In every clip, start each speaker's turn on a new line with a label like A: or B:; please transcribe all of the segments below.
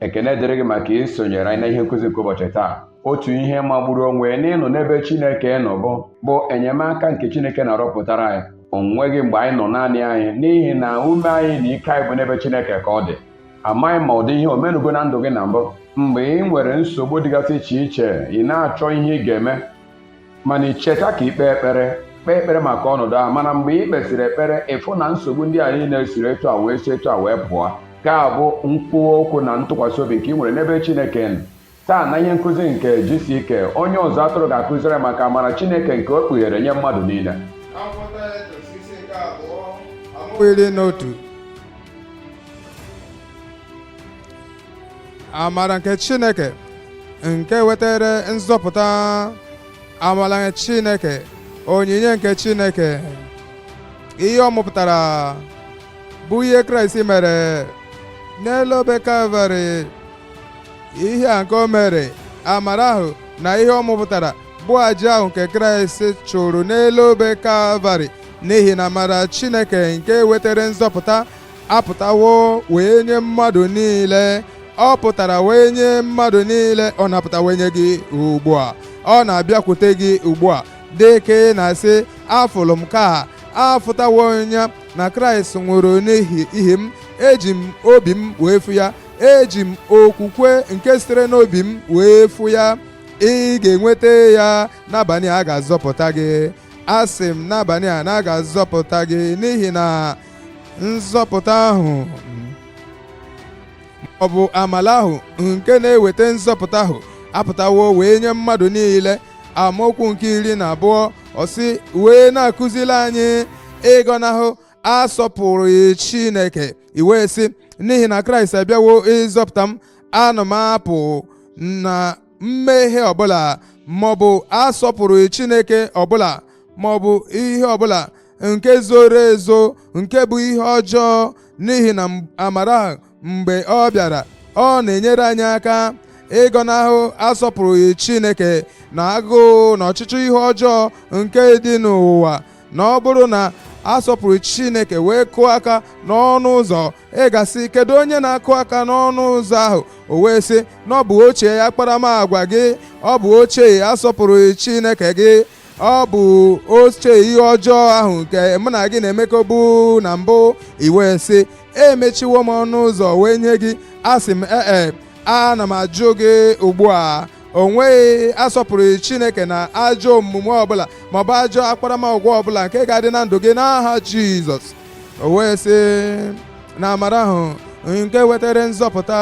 A: ekene dịrị gị maka isonyere anyị na ihe nkụzi nke ụbọchị taa otu ihe magburu onwe ya n'ịnọ n'ebe chineke nọ bụ bụ enyemaka nke chineke na-arọpụtara anyị o nweghị mgbe anyị nọ naanị anyị n'ihi na ume anyị na ike anyị bụ n'ebe chineke ka ọ dị amaghị m ma ụdị ihe o menugo na ndụ gị na mbụ mgbe i nwere nsogbu dịgasị iche iche ị na-achọ ihe ị ga-eme mana i cheta ka i kpee ekpere kpee ekpere maka ọnọdụ ahụ mana mgbe i kpesịrị ekpere ị fụ na nsogbu ndị a niile siri etu a wee si etu a wee pụọ nke a bụ nkwuwa okwu na ntụkwasị obi nke i nwere n'ebe Chineke nọ taa na ihe nkụzi nke GCK onye ọzụzụ atụrụ ga-akụziri maka amara Chineke nke o kpughere nye mmadụ niile
B: amara nke Chineke nke wetara nzọpụta amara nke Chineke onyinye nke Chineke ihe ọ mụpụtara bụ ihe Kraịst mere n'elu obe Kalvarị ihe a nke o mere amara ahụ na ihe ọ mụpụtara bụ aja ahụ nke Kraịst chụrụ n'elu obe Kalvarị n'ihi na amara Chineke nke wetara nzọpụta apụtawo wee nye mmadụ niile ọ pụtara wee nye mmadụ niile ọ na-apụta wee nye gị ugbu a ọ na-abịakwute gị ugbu a dị ka ị na-asị afụlụ m ka afụtawo ya na kraịst nwụrụ n'ihi m eji m obi m wee fụ ya eji m okwukwe nke sitere n'obi m wee fụ ya ị ga-enweta ya n'abalị a a ga-azọpụta gị asị m n'abalị a na a ga-azọpụta gị n'ihi na nzọpụta ahụ ọ bụ amala ahụ nke na-eweta nzọpụta ahụ apụtawo wee nye mmadụ niile amaokwu nke iri na abụọ ọ sị wee na-akụzili anyị ịgọnahụ asọpụrụghị Chineke i wee sị n'ihi na Kraịst abịawo ịzọpụta m ana m apụ na mmehie ọbụla maọbụ asọpụrụghị Chineke ọbụla maọbụ ihe ọbụla nke zoro ezo nke bụ ihe ọjọọ n'ihi na amara ahụ mgbe ọ bịara ọ na-enyere anyị aka ịgọnahụ asọpụrụghị Chineke na agụụ na ọchịchọ ihe ọjọọ nke dị n'ụwa na ọ bụrụ na asọpụrụghị Chineke wee kụọ aka n'ọnụ ụzọ ị ga-asị kedu onye na-akụ aka n'ọnụ ụzọ ahụ o wee sị na ọ bụ ochie akparamagwa gị ọ bụ ochie asọpụrụghị Chineke gị ọ bụ ochie ihe ọjọọ ahụ nke mụ na gị na-emekọbu na mbụ i wee sị emechiwo m ọnụ ụzọ wee nye gị asị m ee e, ana m ajụ gị ugbu a o nweghị asọpụrụ Chineke na ajọ omume ọbụla maọbụ ajọ akparamagwa ọbụla nke ga-adị na ndụ gị n'aha Jizọs o wee sị na amara ahụ nke wetara nzọpụta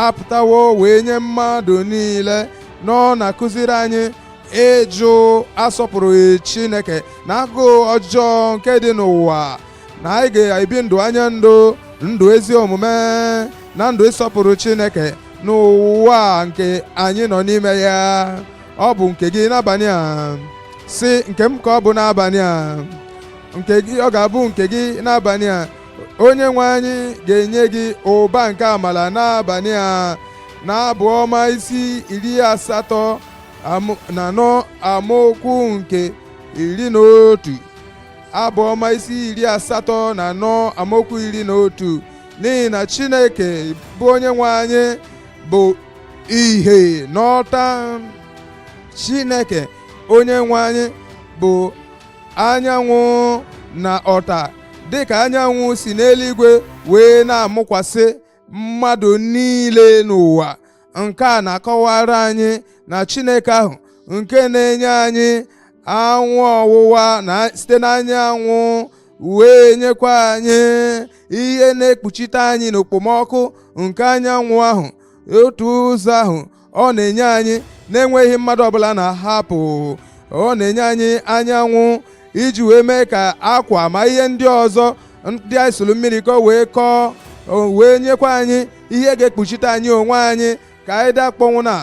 B: apụtawo wee nye mmadụ niile nọ na-akụziri anyị ịjụ asọpụrụghị Chineke na agụụ ọjọọ nke dị n'ụwa na anyị ga-ebi ndụ anya ndụ ndụ ezi omume na ndụ ịsọpụrụ Chineke n'ụwa nke anyị nọ n'ime ya ọ bụ nke gị n'abalị a sị nke m ka ọ bụ n'abalị a nke gị ọ ga-abụ nke gị n'abalị a onye nwe anyị ga-enye gị ụba nke amala n'abalị a n'abụ ọma isi iri asatọ na anọ amaokwu nke iri na otu abụ ọma isi iri asatọ na anọ amaokwu iri na otu n'ihi na chineke bụ onye nwe anyị bụ ihe na ọta chineke onye nwe anyị bụ anyanwụ na ọta dịka anyanwụ si n'eluigwe wee na-amụkwasị mmadụ niile n'ụwa nke a na-akọwara anyị na Chineke ahụ nke na-enye anyị anwụ ọwụwa na site n'anyanwụ wee nyekwa anyị ihe na-ekpuchite anyị n'okpomọkụ nke anyanwụ ahụ otu ụzọ ahụ ọ na-enye anyị na-enweghị mmadụ ọbụla na-ahapụ ọ na-enye anyị anyanwụ iji wee mee ka akwa ma ihe ndị ọzọ ndị anyị sụrụ mmiri ka o wee kọọ wee nyekwa anyị ihe ga-ekpuchite anyị onwe anyị ka anyị dakpọnwụ na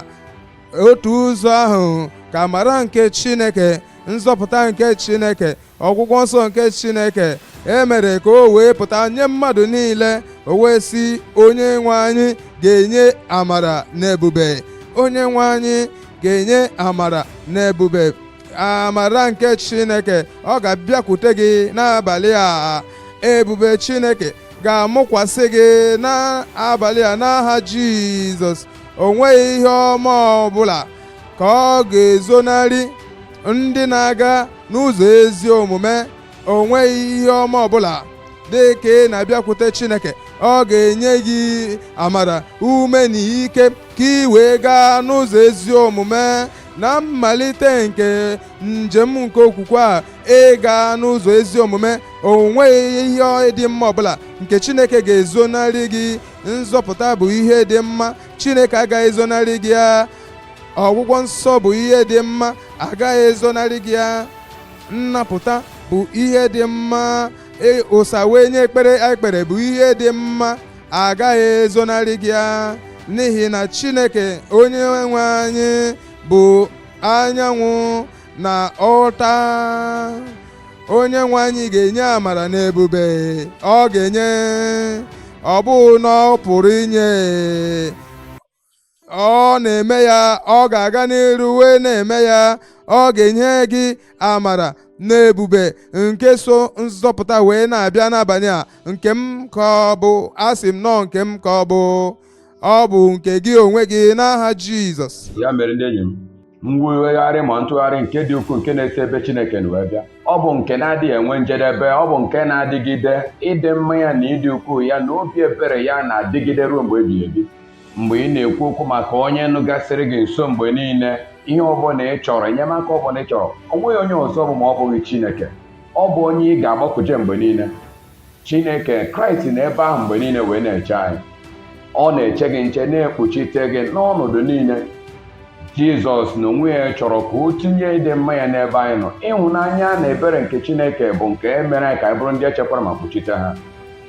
B: otu ụzọ ahụ ka amara nke Chineke nzọpụta nke Chineke ọgwụgwọ nsọ nke chineke e mere ka o wee pụta nye mmadụ niile o wee sị onye nwe anyị ga-enye amara na ebube onye nwe anyị ga-enye amara na ebube amara nke chineke ọ ga-abịakwute gị n'abalị a ebube chineke ga-amụkwasị gị n'abalị a n'aha jizọs o nweghị ihe ọma ọbụla ka ọ ga-ezonarị ndị na-aga n'ụzọ ezi omume o nweghị ihe ọma ọbụla dị ka ị na-abịakwute Chineke ọ ga-enye gị amara ume na ike ka ị wee gaa n'ụzọ ezi omume na mmalite nke njem nke okwukwe a ị gaa n'ụzọ ezi omume o nweghị ihe dị mma ọbụla nke Chineke ga-ezonarị gị nzọpụta bụ ihe dị mma Chineke agaghị ezonarị gị ya ọgwụgwọ nsọ bụ ihe dị mma agaghị ezonarị gị ya nnapụta bụ ihe dị mma e- ụsa wee nye ekpere anyị kpere bụ ihe dị mma agaghị ezonarị gị ya n'ihi na chineke onye nwe anyị bụ anyanwụ na ọta onye nwe anyị ga-enye amara na ebube ọ ga-enye ọ bụghị na ọ pụrụ inye ọ na-eme ya ọ ga-aga n'iru wee na-eme ya ọ ga-enye gị amara na ebube nke so nzọpụta wee na-abịa n'abalị a nke m ka ọ bụ asị m na ọ nke m ka ọ bụ ọ bụ nke gị onwe gị n'aha Jizọs ya mere ndị enyi m
A: mwegharị ma ntụgharị nke dị ukwuu nke na-esi ebe Chineke nọ wee bịa ọ bụ nke na-adịghị enwe njedebe ọ bụ nke na-adịgide ịdị mma ya na ịdị ukwuu ya na obi ebere ya na-adịgide ruo mgbe ebighị ebi mgbe ị na-ekwu okwu maka onye nọkasịrị gị nso mgbe niile ihe ọbụla ị chọrọ enyemaka ọbụla ị chọrọ o nweghị onye ọzọ ọ bụ ma ọ bụghị Chineke ọ bụ onye ị ga-agbakuje mgbe niile Chineke Kraịst nọ ebe ahụ mgbe niile wee na-eche anyị ọ na-eche gị nche na-ekpuchite gị n'ọnọdụ niile Jizọs na onwe ya chọrọ ka o tinye ịdị mma ya n'ebe anyị nọ ịhụnanya na ebere nke Chineke bụ nke e mere anyị ka anyị bụrụ ndị e chekwara ma kpuchite ha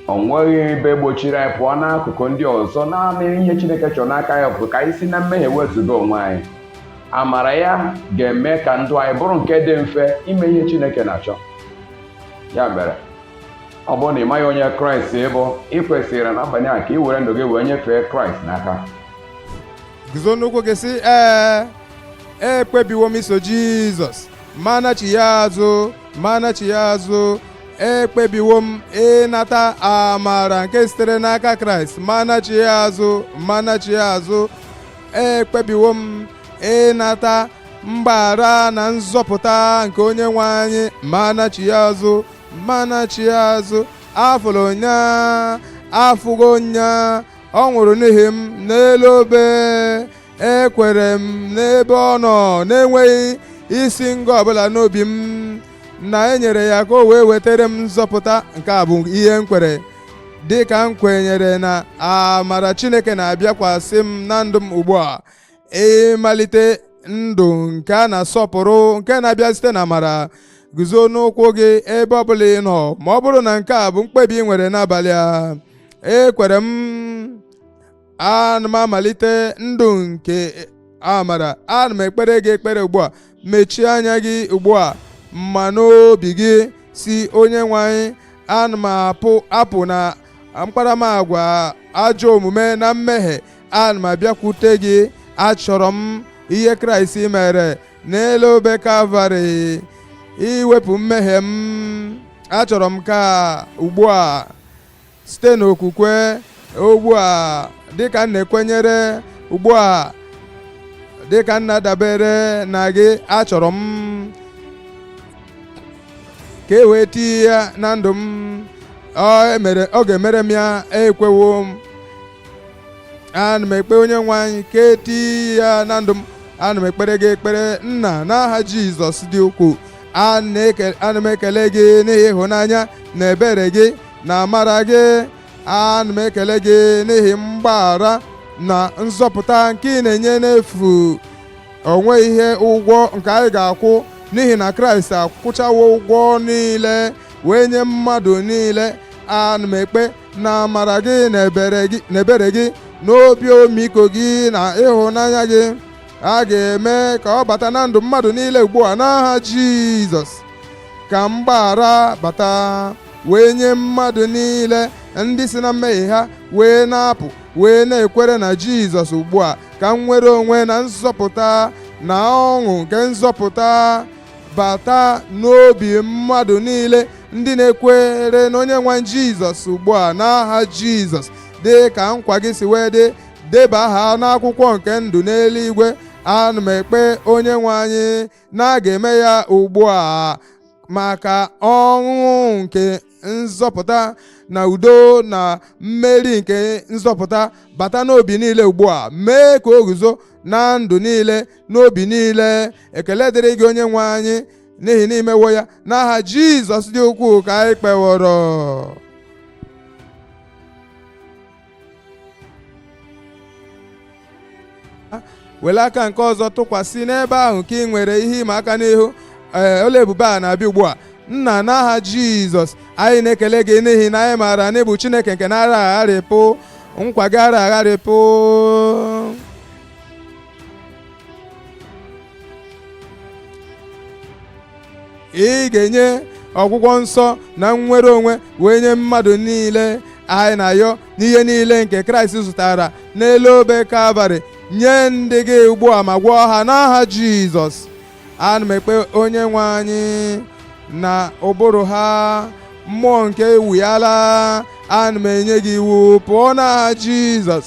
A: o nweghị ebe gbochiri anyị pụọ n'akụkụ ndị ọzọ naanị ihe Chineke chọrọ n'aka anyị bụ ka anyị si na mmehie wezụga onwe anyị amara ya ga-eme ka ndụ anyị bụrụ nke dị mfe ime ihe Chineke na-achọ ya mere ọ bụrụ na ị maghị onye kraịst bụ ị kwesịrị n'abalị a ka ị were ndụ gị wee nyefee kraịst n'aka
B: guzo n'ụkwụ gị sị ee ekpebiwo m iso jizọs ma anachigha azụ ma anachigha azụ ekpebiwo m ịnata amara nke sitere n'aka kraịst ma anachigha azụ ma anachigha azụ ekpebiwo m ịnata mgbaghara na nzọpụta nke onye nwe anyị ma anachigha azụ ma anachigha azụ afụrụ m ya afụgo m ya ọ nwụrụ n'ihi m n'elu obe ekwere m n'ebe ọ nọ na-enweghị isi ngọ ọbụla n'obi m na e nyere ya ka o wee wetara m nzọpụta nke a bụ ihe m kwere dị ka m kwenyere na amara Chineke na-abịakwasị m na ndụ m ugbu a ịmalite ndụ nke a na-asọpụrụ nke na-abịa site na amara guzo n'ụkwụ gị ebe ọbụla ị nọ ma ọ bụrụ na nke a bụ mkpebi ị nwere n'abalị a ekwere m ana m amalite ndụ nke amara ana m ekpere gị ekpere ugbu a mechie anya gị ugbu a ma n'obi gị sị onye nwe anyị ana m apụ apụ na mkparamagwa ajọ omume na mmehie ana m abịakwute gị achọrọ m ihe kraịst mere n'elu obe kalvarị iwepụ mmehie m achọrọ m ka ugbu a site n'okwukwe ugbu a dịka m na-ekwenyere ugbu a dịka m na-adabere na gị achọrọ m ka e wee tie ya na ndụ m ọ ga-emere m ya ekwewo m ana m ekpe onye nwe anyị ka e tie ya na ndụ m ana m ekpere gị ekpere nna n'aha jizọs dị ukwuu ana m ekele gị n'ihi ịhụnanya na ebere gị na amara gị ana m ekele gị n'ihi mgbaghara na nzọpụta nke ị na-enye n'efu o nweghị ihe ụgwọ nke anyị ga-akwụ n'ihi na kraịst akwụchawo ụgwọ niile wee nye mmadụ niile ana m ekpe na amara gị na ebere gị na obi ọmịiko gị na ịhụnanya gị a ga-eme ka ọ bata na ndụ mmadụ niile ugbu a n'aha jizọs ka mgbaghara bata wee nye mmadụ niile ndị si na mmehie ha wee na-apụ wee na-ekwere na Jizọs ugbu a ka nnwere onwe na nzọpụta na ọṅụ nke nzọpụta bata n'obi mmadụ niile ndị na-ekwere na onye nwe anyị Jizọs ugbu a n'aha Jizọs dị ka nkwa gị si wee dị deba aha n'akwụkwọ nke ndụ n'eluigwe ana m ekpe onye nwe anyị na a ga-eme ya ugbu a ma ka ọṅụ nke nzọpụta na udo na mmeri nke nzọpụta bata n'obi niile ugbu a mee ka o guzo na ndụ niile n'obi niile ekele dịrị gị onye nwe anyị n'ihi na i mewo ya n'aha jizọs dị ukwuu ka anyị kpeworo were aka nke ọzọ tụkwasị n'ebe ahụ nke i nwere ihe ịma aka n'ihu ọlụ ebube a na-abịa ugbu a nna n'aha jizọs anyị na-ekele gị n'ihi na anyị maara na ị bụ chineke nke na-ara agharịpụ nkwa gị ara agharịpụ ị ga-enye ọgwụgwọ nsọ na nnwere onwe wee nye mmadụ niile anyị na-ayọ n'ihe niile nke kraịst zụtara n'elu obe kalvarị nye ndị gị ugbu a ma gwọọ ha n'aha jizọs ana m ekpe onye nwe anyị na ụbụrụ ha mmụọ nke ewuyala ana m enye gị iwu pụọ n'aha jizọs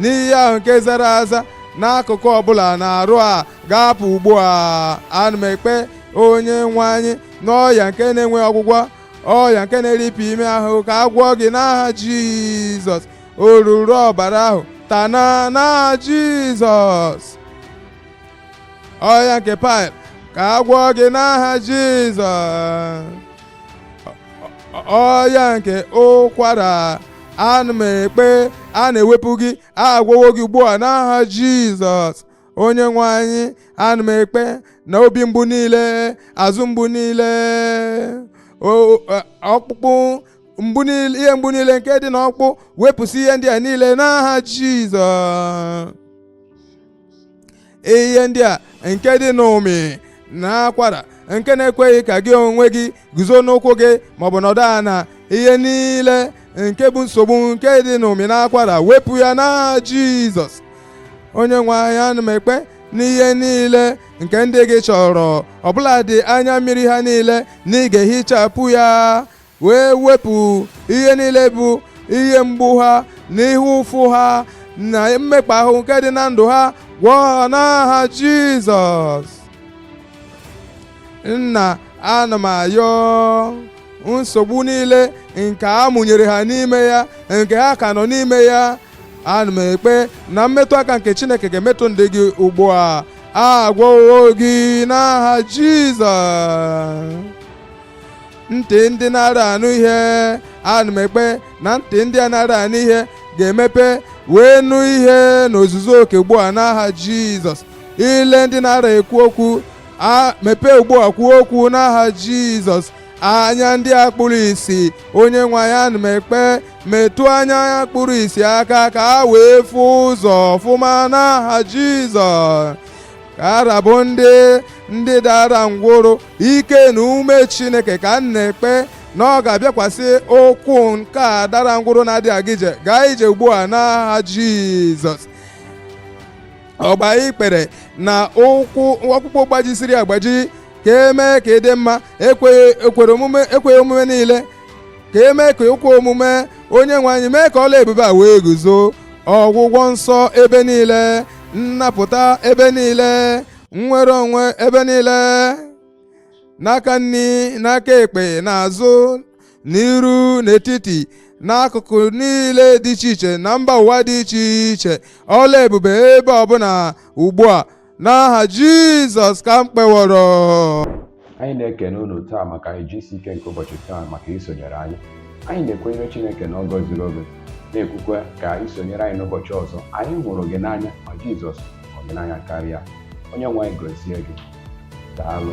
B: n'ihe ahụ nke zara aza n'akụkụ ọbụla n'arụ a ga-apụ ugbu a ana m ekpe onye nwe anyị n'ọya nke na-enweghị ọgwụgwọ ọya nke na-eripịa ime ahụ ka a gwọọ gị n'aha jizọs oruru ọbara ahụ tana n'aha jizọs ọya nke paịl ka a gwọọ gị n'aha jizọs ọya nke ụkwara ana m ekpe a na-ewepụ gị agwọwo gị ugbu a n'aha jizọs onye nwe anyị ana m ekpe na obi mgbu niile azụ mgbu niile o- a- ọkpụkpụ mgbu niile ihe mgbu niile nke dị n'ọkpụkpụ wepụsị ihe ndị a niile n'aha jizọs ihe ndị a nke dị n'ụmị na akwara nke na-ekweghị ka gị onwe gị guzo n'ụkwụ gị maọbụ nọdụ ala ihe niile nke bụ nsogbu nke dị n'ụmị na akwara wepụ ya n'aha jizọs onye nwe anyị ana m ekpe n'ihe niile nke ndị gị chọrọ ọbụladị anya mmiri ha niile na ị ga-ehichapụ ya wee wepụ ihe niile bụ ihe mgbu ha na ihe ụfụ ha na mmekpa ahụ nke dị na ndụ ha gwọọ ha n'aha Jizọs nna ana m ayọ nsogbu niile nke a mụnyere ha n'ime ya nke ha ka nọ n'ime ya ana m ekpe na mmetụ aka nke Chineke ga-emetụ ndị gị ugbu a agwọwo gị n'aha Jizọs ntị ndị na-ara anụ ihe ana m ekpe na ntị ndị a na-ara anụ ihe ga-emepe wee nụ ihe n'ozuzu oke ugbu a n'aha jizọs ile ndị na-ara ekwu okwu mepee ugbu a kwuo okwu n'aha jizọs anya ndị a kpụrụ isi onye nwe anyị ana m ekpe metụ anya a kpụrụ isi aka ka ha wee fụ ụzọ ọfụma n'aha jizọs ka arabụ ndị ndị dara ngwụrụ ike na ume chineke ka m na-ekpe na ọ ga-abịakwasị ụkwụ nke a dara ngwụrụ na-adịghị aga ije gaa ije ugbu a n'aha jizọs ọgba ikpere na ụkwụ ọkpụkpụ gbajisiri agbaji ka e mee ka ị dị mma ekweghị omume niile ka e mee ka o kwe omume onye nwe anyị mee ka ọlụ ebube a wee guzo ọgwụgwọ nsọ ebe niile nnapụta ebe niile nnwere onwe ebe niile n'aka nri n'aka ekpe n'azụ n'iru n'etiti n'akụkụ niile dị iche iche na mba ụwa dị iche iche ọlụ ebube ebe ọbụla ugbu a n'aha Jizọs ka m kpeworo anyị
A: na-ekene unu taa maka GCK nke ụbọchị taa maka isonyere anyị anyị na-ekwenyere Chineke na ọ gọziri oge na-ekwukwe ka i sonyere anyị n'ụbọchị ọzọ anyị hụrụ gị n'anya ma Jizọs hụrụ gị n'anya karịa onye nwe anyị gọzie gị daalụ